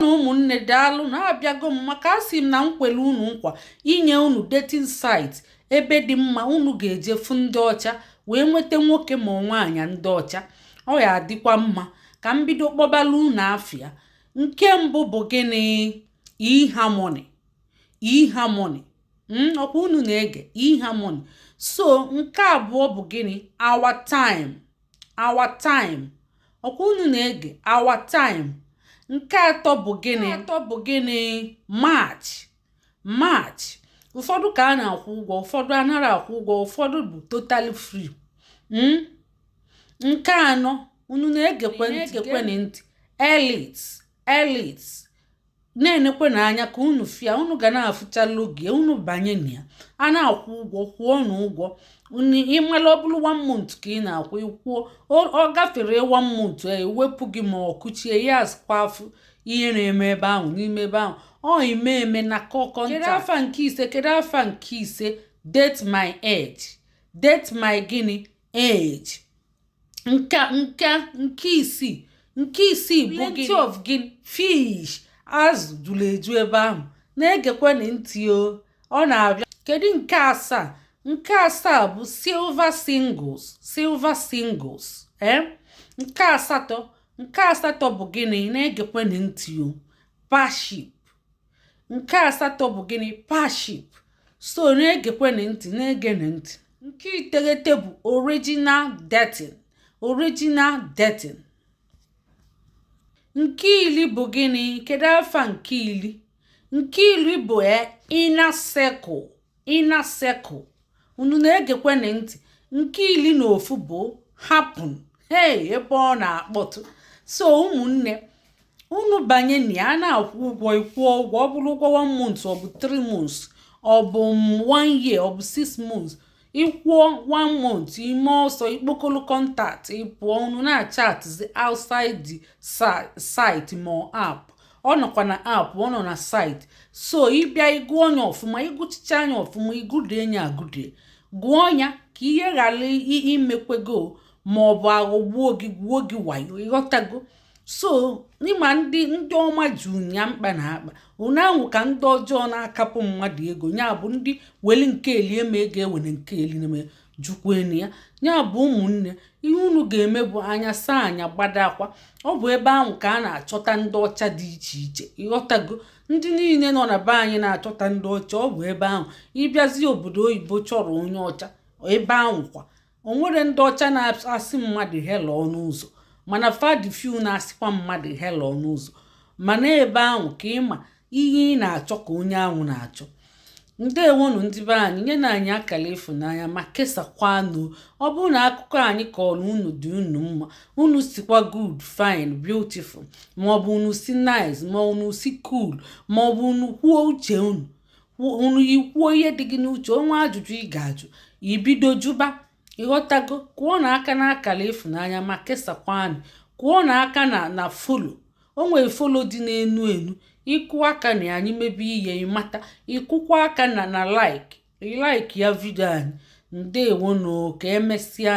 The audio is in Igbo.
na ụmụnne daalụ na abịago m maka asị m na m kwelu unu nkwa inye unu dating site ebe dị mma unu ga-eje fụ ndị ọcha wee nweta nwoke ma nwaanyị ndị ọcha ọ ya adịkwa mma ka m bido kpọbala unu afa ya nke mbụ bụ gịnị eharmony eharmony hmm, ọkwa unu na-ege eharmony so nke abụọ bụ gịnị our time our time ọkwa unu na-ege our time nke atọ bụ atọ bụ gịnị match match ụfọdụ ka a na-akwụ ụgwọ ụfọdụ anaghị akwụ ụgwọ ụfọdụ bụ totally free hmm? nke anọ unu na-egekwe ntị elite elite na-enekwana anya ka unu fụ ya unu ga na-afụcha logo ya unu banye na ya a na-akwụ ụgwọ kwụọnụ ụgwọ ịmala ọ bụrụ one month ka ị na-akwụ ịkwụọ ọ gafere one month e, ewepụ gị ma ọ kụchie ya azụkwa afụ ihe na-eme ebe ahụ n'ime ebe ahụ ọ ime eme na kọkọ kedu afa nke ise kedu afa nke ise date my age date my gịnị age nke nke nke isii nke isii bụ plenty of gịnị fish azụ juru eju ebe ahụ na-egekwana ntị o ọ na-abịa kedu nke asaa nke asaa bụ silver singles silver singles ee eh? nke asatọ nke asatọ bụ gịnị na-egekwana ntị o parship nke asatọ bụ gịnị parship so na-egekwenụ ntị na-egenụ ntị nke iteghete bụ original dating original dating nke iri bụ gịnị kedu afa nke iri nke iri bụ e, inner circle inner circle unu na-egekwenụ ntị nke iri na ofu bụ happn hei ebe ọ na-akpọtụ so ụmụnne unu banye na ya a na-akwụ ụgwọ ịkwụọ ụgwọ ọ bụrụ ụgwọ 1 month ọ bụ 3 months ọ bụ 1 year ọ bụ 6 months ịkwụọ 1 month ime ọsọ ikpokolo contact ịpụọ unu na-achatzi outside the site ma app ọ nọkwa na app ọ nọ na site so ịbịa ịgụ onye ọfụma ịgụchicha nya ọfụma ịgụdie nya agụdie gụọ ya ka ihe ghara imekwe gị o ma ọ bụ aghọgbuo gị gwuo gị wayo ịghọtago so n'ịma ndị ndị ọma ju nya mkpa na akpa unu ahụ ka ndị ọjọọ na-akapụ mmadụ ego ya bụ ndị weli nke eli eme ego ewere nke eli na jụkwenụ ya ya bụ ụmụnne ihe unu ga-eme bụ anya saa anya gbadakwa ọ bụ ebe ahụ ka a na-achọta ndị ọcha dị iche iche ị ghọtago ndị niile nọ na be anyị na-achọta ndị ọcha ọ bụ ebe ahụ ị bịazi obodo oyibo chọrọ onye ọcha ebe ahụ kwa o nwere ndị ọcha na-asị mmadụ hello n'ụzọ mana fa dị few na-asịkwa mmadụ hello n'ụzọ mana ebe ahụ ka ị ma ihe ị na-achọ ka onye ahụ na-achọ ndewonụ ndị be anyị nyenụ anyị akara ịfụnanya ma kesakwanụ ọ bụrụ na akụkọ anyị kọrọ unu dị unu mma unu sịkwa good fine beautiful maọbụ unu sị nice ma unu sị cool maọbụ unu kwuo uche unu unu i kwuo ihe dị gị n'uche o nwee ajụjụ ị ga-ajụ i bido jụba ị ghọtago kụọnụ aka na akara ịfụnanya ma kesakwanụ kụọnụ aka na na follow o nwere follow dị n'enu enu ị kụ aka na anyị mebe ihe ị mata ị kụkwa aka na na like like ya video anyị ndewonụ ka emesịa